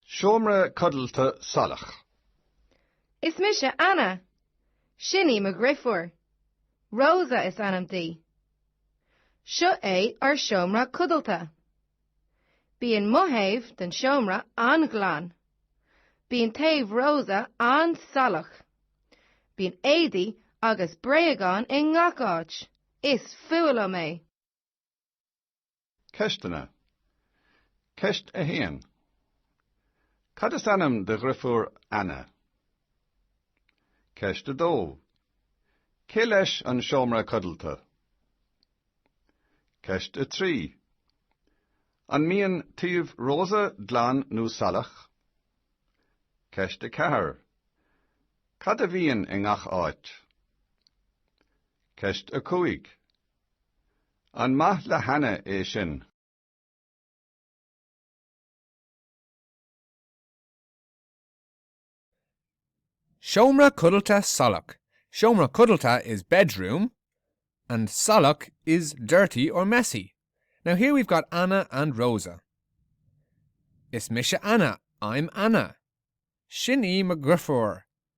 Seomra codlata salach. Is mise Anna. Sin í mo dhriofúr. Rosa is ainm di. Seo é ár seomra codlata. Bíonn mo thaobh den seomra an-ghlan. Bíonn taobh Rosa an-salach. Bíonn éadaí agus bréagáin i ngach áit. Is fuath liom é. Ceisteanna. Ceist 1. Cad is ainm de dhriofúr Anna? Ceist 2. Cé leis an seomra codlata? Ceist 3. An mbíonn taobh Rosa glan nó salach? Ceist 4. Cad a bhíonn i ngach áit? Ceist 5. An maith le hAnna é sin? Seomra codlata salach, Seomra codlata is bedroom and salach is dirty or messy. Now here we've got Anna and Rosa. Is mise Anna, I'm Anna. Sin í mo dhriofúr,